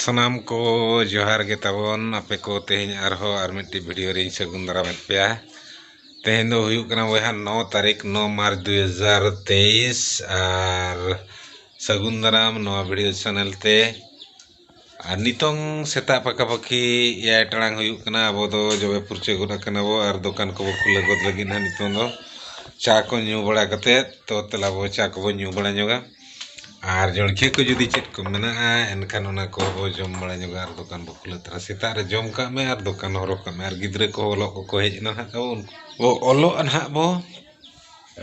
ᱥᱟᱱᱟᱢ ᱠᱚ ᱡᱚᱦᱟᱨ ᱜᱮ ᱛᱟᱵᱚᱱ ᱟᱯᱮ ᱠᱚ ᱛᱮᱦᱮᱧ ᱟᱨᱦᱚᱸ ᱟᱨ ᱢᱤᱫᱴᱤᱡ ᱵᱷᱤᱰᱤᱭᱳ ᱨᱤᱧ ᱥᱟᱹᱜᱩᱱ ᱫᱟᱨᱟᱢᱮᱫ ᱯᱮᱭᱟ ᱛᱮᱦᱮᱧ ᱫᱚ ᱦᱩᱭᱩᱜ ᱠᱟᱱᱟ ᱵᱚᱭᱦᱟ ᱱᱚ ᱛᱟᱹᱨᱤᱠᱷ ᱱᱚ ᱢᱟᱨᱪ ᱫᱩᱭ ᱦᱟᱡᱟᱨ ᱛᱮᱭᱤᱥ ᱟᱨ ᱥᱟᱹᱜᱩᱱ ᱫᱟᱨᱟᱢ ᱱᱚᱣᱟ ᱵᱷᱤᱰᱤᱭᱳ ᱪᱮᱱᱮᱞ ᱛᱮ ᱟᱨ ᱱᱤᱛᱚᱝ ᱥᱮᱛᱟᱜ ᱯᱟᱠᱷᱟ ᱯᱟᱹᱠᱷᱤ ᱮᱭᱟᱭ ᱴᱟᱲᱟᱝ ᱦᱩᱭᱩᱜ ᱠᱟᱱᱟ ᱟᱵᱚ ᱫᱚ ᱡᱚᱵᱮ ᱯᱷᱩᱨᱪᱟᱹ ᱜᱚᱫ ᱟᱠᱟᱱᱟ ᱵᱚ ᱟᱨ ᱫᱚᱠᱟᱱ ᱠᱚᱵᱚ ᱠᱷᱩᱞᱟᱹᱣ ᱜᱚᱫ ᱞᱟᱹᱜᱤᱫ ᱦᱟᱸᱜ ᱱᱤᱛᱚᱝ ᱫᱚ ᱪᱟ ᱠᱚ ᱧᱩ ᱵᱟᱲᱟ ᱠᱟᱛᱮ ᱛᱚ ᱫᱮᱞᱟ ᱵᱚ ᱪᱟ ᱠᱚᱵᱚ ᱧᱩ ᱵᱟᱲᱟ ᱧᱚᱜᱟ ᱟᱨ ᱡᱚᱞᱠᱷᱤᱭᱟᱹ ᱠᱚ ᱡᱩᱫᱤ ᱪᱮᱫ ᱠᱚ ᱢᱮᱱᱟᱜᱼᱟ ᱮᱱᱠᱷᱟᱱ ᱚᱱᱟ ᱠᱚ ᱵᱚ ᱡᱚᱢ ᱵᱟᱲᱟ ᱧᱚᱜᱟ ᱟᱨ ᱫᱚᱠᱟᱱ ᱵᱚ ᱠᱷᱩᱞᱟᱹᱣ ᱛᱚᱨᱟ ᱥᱮᱛᱟᱜ ᱨᱮ ᱡᱚᱢ ᱠᱟᱜ ᱢᱮ ᱟᱨ ᱫᱚᱠᱟᱱ ᱦᱚᱨᱚᱜ ᱠᱟᱜ ᱢᱮ ᱟᱨ ᱜᱤᱫᱽᱨᱟᱹ ᱠᱚ ᱚᱞᱚᱜ ᱠᱚᱠᱚ ᱦᱮᱡ ᱮᱱᱟ ᱦᱟᱸᱜ ᱛᱟᱵᱚᱱ ᱚᱞᱚᱜ ᱱᱟᱦᱟᱜ ᱵᱚ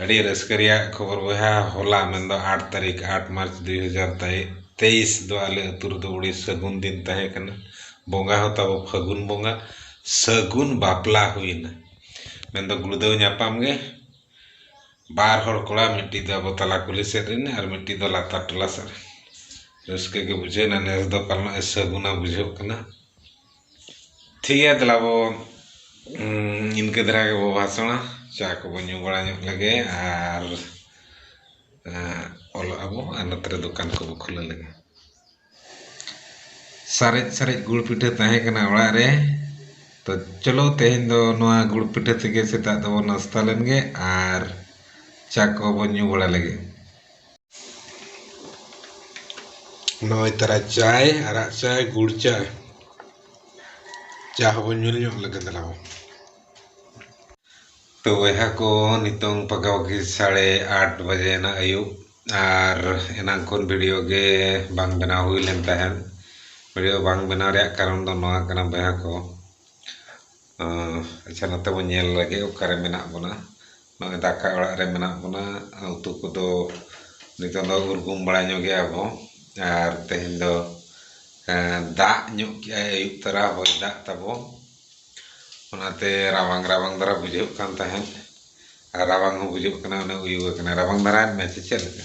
ᱟᱹᱰᱤ ᱨᱟᱹᱥᱠᱟᱹ ᱨᱮᱭᱟᱜ ᱠᱷᱚᱵᱚᱨ ᱵᱚᱭᱦᱟ ᱦᱚᱞᱟ ᱢᱮᱱᱫᱚ ᱟᱴ ᱛᱟᱹᱨᱤᱠᱷ ᱟᱴ ᱢᱟᱨᱪ ᱫᱩᱭ ᱦᱟᱡᱟᱨ ᱛᱮᱭᱤᱥ ᱫᱚ ᱟᱞᱮ ᱟᱹᱛᱩ ᱨᱮᱫᱚ ᱟᱹᱰᱤ ᱥᱟᱹᱜᱩᱱ ᱫᱤᱱ ᱛᱟᱦᱮᱸ ᱠᱟᱱᱟ ᱵᱚᱸᱜᱟ ᱦᱚᱸ ᱛᱟᱵᱚ ᱯᱷᱟᱹᱜᱩᱱ ᱵᱚᱸᱜᱟ ᱥᱟᱹᱜᱩᱱ ᱵᱟᱯᱞᱟ ᱦᱩᱭ ᱮᱱᱟ ᱢᱮᱱᱫᱚ ᱜᱩᱲᱫᱟᱹᱣ ᱧᱟᱯᱟᱢ ᱜᱮ ᱵᱟᱨ ᱦᱚᱲ ᱠᱚᱲᱟ ᱢᱤᱫᱴᱤᱡ ᱫᱚ ᱟᱵᱚ ᱛᱟᱞᱟ ᱠᱩᱞᱦᱤ ᱥᱮᱫ ᱨᱮᱱ ᱟᱨ ᱢᱤᱫᱴᱤᱡ ᱫᱚ ᱞᱟᱛᱟᱨ ᱴᱚᱞᱟ ᱥᱮᱫ ᱨᱮᱱ ᱨᱟᱹᱥᱠᱟᱹ ᱜᱮ ᱵᱩᱡᱷᱟᱹᱣ ᱮᱱᱟ ᱱᱮᱥ ᱫᱚ ᱯᱟᱞᱮᱱᱚᱜ ᱮ ᱥᱟᱹᱜᱩᱱᱟ ᱵᱩᱡᱷᱟᱹᱜ ᱠᱟᱱᱟ ᱴᱷᱤᱠ ᱜᱮᱭᱟ ᱫᱮᱞᱟ ᱵᱚ ᱤᱱᱠᱟᱹ ᱫᱷᱟᱨᱟ ᱜᱮᱵᱚ ᱵᱷᱟᱥᱚᱱᱟ ᱪᱟ ᱠᱚᱵᱚ ᱧᱩ ᱵᱟᱲᱟ ᱧᱚᱜ ᱞᱮᱜᱮ ᱟᱨ ᱚᱞᱚᱜ ᱟᱵᱚ ᱟᱨ ᱱᱚᱛᱮ ᱨᱮ ᱫᱚᱠᱟᱱ ᱠᱚᱵᱚ ᱠᱷᱩᱞᱟᱹᱣ ᱞᱮᱜᱮ ᱥᱟᱨᱮᱡ ᱥᱟᱨᱮᱡ ᱜᱩᱲ ᱯᱤᱴᱷᱟᱹ ᱛᱟᱦᱮᱸ ᱠᱟᱱᱟ ᱚᱲᱟᱜ ᱨᱮ ᱛᱚ ᱪᱚᱞᱚ ᱛᱮᱦᱮᱧ ᱫᱚ ᱱᱚᱣᱟ ᱜᱩᱲ ᱯᱤᱴᱷᱟᱹ ᱛᱮᱜᱮ ᱥᱮᱛᱟᱜ ᱫᱚᱵᱚ ᱱᱟᱥᱛᱟ ᱞᱮᱱᱜᱮ ᱟᱨ ᱪᱟ ᱠᱚᱵᱚ ᱧᱩ ᱵᱟᱲᱟ ᱞᱮᱜᱮ ᱱᱚᱜᱼᱚᱭ ᱛᱟᱨᱟ ᱪᱟᱭ ᱟᱨᱟᱜ ᱪᱟᱭ ᱜᱩᱲ ᱪᱟᱭ ᱪᱟ ᱦᱚᱸᱵᱚᱱ ᱧᱩ ᱧᱚᱜ ᱞᱮᱜᱮ ᱫᱮᱞᱟ ᱵᱚᱱ ᱛᱚ ᱵᱚᱭᱦᱟ ᱠᱚ ᱱᱤᱛᱚᱝ ᱯᱟᱠᱟᱯᱟᱠᱤ ᱥᱟᱲᱮ ᱟᱴ ᱵᱟᱡᱮᱱᱟ ᱟᱹᱭᱩᱵ ᱟᱨ ᱮᱱᱟᱝ ᱠᱷᱚᱱ ᱵᱷᱤᱰᱤᱭᱳ ᱜᱮ ᱵᱟᱝ ᱵᱮᱱᱟᱣ ᱦᱩᱭ ᱞᱮᱱ ᱛᱟᱦᱮᱸᱫ ᱵᱷᱤᱰᱤᱭᱳ ᱵᱟᱝ ᱵᱮᱱᱟᱣ ᱨᱮᱭᱟᱜ ᱠᱟᱨᱚᱱ ᱫᱚ ᱱᱚᱣᱟ ᱠᱟᱱᱟ ᱵᱚᱭᱦᱟ ᱠᱚ ᱟᱪᱪᱷᱟ ᱱᱚᱛᱮ ᱵᱚᱱ ᱧᱮᱞ ᱞᱮᱜᱮ ᱚᱠᱟᱨᱮ ᱢᱮᱱᱟᱜ ᱵᱚᱱᱟ ᱱᱚᱜᱼᱚᱭ ᱫᱟᱠᱟ ᱚᱲᱟᱜ ᱨᱮ ᱢᱮᱱᱟᱜ ᱵᱚᱱᱟ ᱩᱛᱩ ᱠᱚᱫᱚ ᱱᱤᱛᱚᱝ ᱫᱚ ᱩᱨᱜᱩᱢ ᱵᱟᱲᱟ ᱧᱚᱜᱮᱜ ᱟᱵᱚ ᱟᱨ ᱛᱮᱦᱮᱧ ᱫᱚ ᱫᱟᱜ ᱧᱚᱜ ᱠᱮᱜ ᱟᱭ ᱟᱹᱭᱩᱵ ᱛᱚᱨᱟ ᱦᱚᱭ ᱫᱟᱜ ᱛᱟᱵᱚ ᱚᱱᱟᱛᱮ ᱨᱟᱵᱟᱝ ᱨᱟᱵᱟᱝ ᱫᱷᱟᱨᱟ ᱵᱩᱡᱷᱟᱹᱜ ᱠᱟᱱ ᱛᱟᱦᱮᱸᱫ ᱟᱨ ᱨᱟᱵᱟᱝ ᱦᱚᱸ ᱵᱩᱡᱷᱟᱹᱜ ᱠᱟᱱᱟ ᱚᱱᱮ ᱩᱭᱩ ᱟᱠᱟᱱᱟ ᱨᱟᱵᱟᱝ ᱫᱷᱟᱨᱟᱭᱮᱱ ᱢᱮ ᱥᱮ ᱪᱮᱫ ᱞᱮᱠᱟ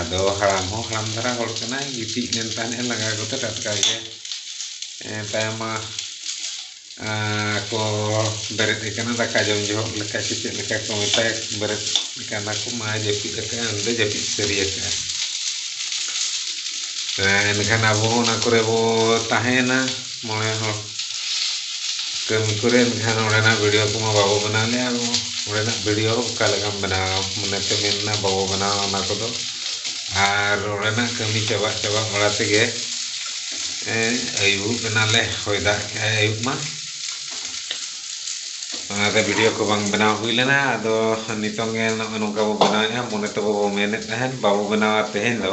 ᱟᱫᱚ ᱦᱟᱲᱟᱢ ᱦᱚᱸ ᱦᱟᱲᱟᱢ ᱫᱷᱟᱨᱟ ᱦᱚᱲ ᱠᱟᱱᱟᱭ ᱜᱤᱛᱤᱡ ᱞᱮᱱ ᱛᱟᱦᱮᱸᱫ ᱮ ᱞᱟᱸᱜᱟ ᱠᱚᱛᱮ ᱴᱟᱴᱠᱟ ᱜᱮ ᱛᱟᱭᱚᱢ ᱢᱟ ᱠᱚ ᱵᱮᱨᱮᱫ ᱮ ᱠᱟᱱᱟ ᱫᱟᱠᱟ ᱡᱚᱢ ᱡᱚᱦᱚᱜ ᱞᱮᱠᱟ ᱥᱮ ᱪᱮᱫ ᱞᱮᱠᱟ ᱠᱚ ᱢᱮᱛᱟᱭ ᱵᱮᱨᱮᱫ ᱠᱟᱱᱟ ᱠᱚ ᱢᱟᱭ ᱡᱟᱹᱯᱤᱫ ᱟᱠᱟᱫᱼᱟ ᱩᱱᱤ ᱫᱚ ᱡᱟᱹᱯᱤᱫ ᱥᱟᱹᱨᱤ ᱟᱠᱟᱫᱼᱟ ᱮᱱᱠᱷᱟᱱ ᱟᱵᱚ ᱦᱚᱸ ᱚᱱᱟ ᱠᱚᱨᱮ ᱵᱚ ᱛᱟᱦᱮᱸᱭᱮᱱᱟ ᱢᱚᱬᱮ ᱦᱚᱲ ᱠᱟᱹᱢᱤ ᱠᱚᱨᱮ ᱮᱱᱠᱷᱟᱱ ᱚᱸᱰᱮᱱᱟᱜ ᱵᱷᱤᱰᱤᱭᱳ ᱠᱚᱢᱟ ᱵᱟᱵᱚ ᱵᱮᱱᱟᱣ ᱞᱮᱫᱼᱟ ᱚᱸᱰᱮᱱᱟᱜ ᱵᱷᱤᱰᱤᱭᱳ ᱚᱠᱟ ᱞᱮᱠᱟᱢ ᱵᱮᱱᱟᱣᱟ ᱢᱚᱱᱮᱛᱮ ᱢᱮᱱ ᱮᱱᱟ ᱵᱟᱵᱚ ᱵᱮᱱᱟᱣᱟ ᱚᱱᱟ ᱠᱚᱫᱚ ᱟᱨ ᱚᱸᱰᱮᱱᱟᱜ ᱠᱟᱹᱢᱤ ᱪᱟᱵᱟ ᱪᱟᱵᱟ ᱵᱟᱲᱟ ᱛᱮᱜᱮ ᱟᱹᱭᱩᱵ ᱮᱱᱟᱞᱮ ᱦᱚᱭ ᱫᱟᱜ ᱠᱮᱫᱼᱟᱭ ᱟᱹᱭᱩᱵ ᱢᱟ ᱚᱱᱟᱛᱮ ᱵᱷᱤᱰᱤᱭᱳ ᱠᱚ ᱵᱟᱝ ᱵᱮᱱᱟᱣ ᱦᱩᱭ ᱞᱮᱱᱟ ᱟᱫᱚ ᱱᱤᱛᱚᱝ ᱜᱮ ᱱᱚᱜᱼᱚᱭ ᱱᱚᱝᱠᱟ ᱵᱚ ᱵᱮᱱᱟᱣᱮᱫᱼᱟ ᱢᱚᱱᱮ ᱛᱮ ᱵᱟᱵᱚ ᱢᱮᱱᱮᱫ ᱛᱟᱦᱮᱱ ᱵᱟᱵᱚ ᱵᱮᱱᱟᱣᱟ ᱛᱮᱦᱮᱧ ᱫᱚ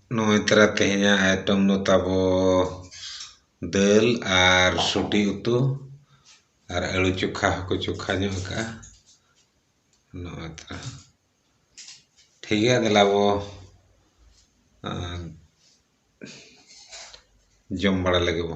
ᱱᱚᱜᱼᱚᱭ ᱛᱚᱨᱟ ᱛᱮᱦᱮᱧᱟᱜ ᱟᱭᱴᱮᱢ ᱫᱚ ᱛᱟᱵᱚ ᱫᱟᱹᱞ ᱟᱨ ᱥᱩᱴᱤ ᱩᱛᱩ ᱟᱨ ᱟᱹᱞᱩ ᱪᱚᱠᱷᱟ ᱦᱚᱸᱠᱚ ᱪᱚᱠᱷᱟ ᱧᱚᱜ ᱟᱠᱟᱫᱼᱟ ᱱᱚᱜᱼᱚᱭ ᱛᱚᱨᱟ ᱴᱷᱤᱠ ᱜᱮᱭᱟ ᱫᱮᱞᱟ ᱵᱚ ᱡᱚᱢ ᱵᱟᱲᱟ ᱞᱮᱜᱮ ᱵᱚ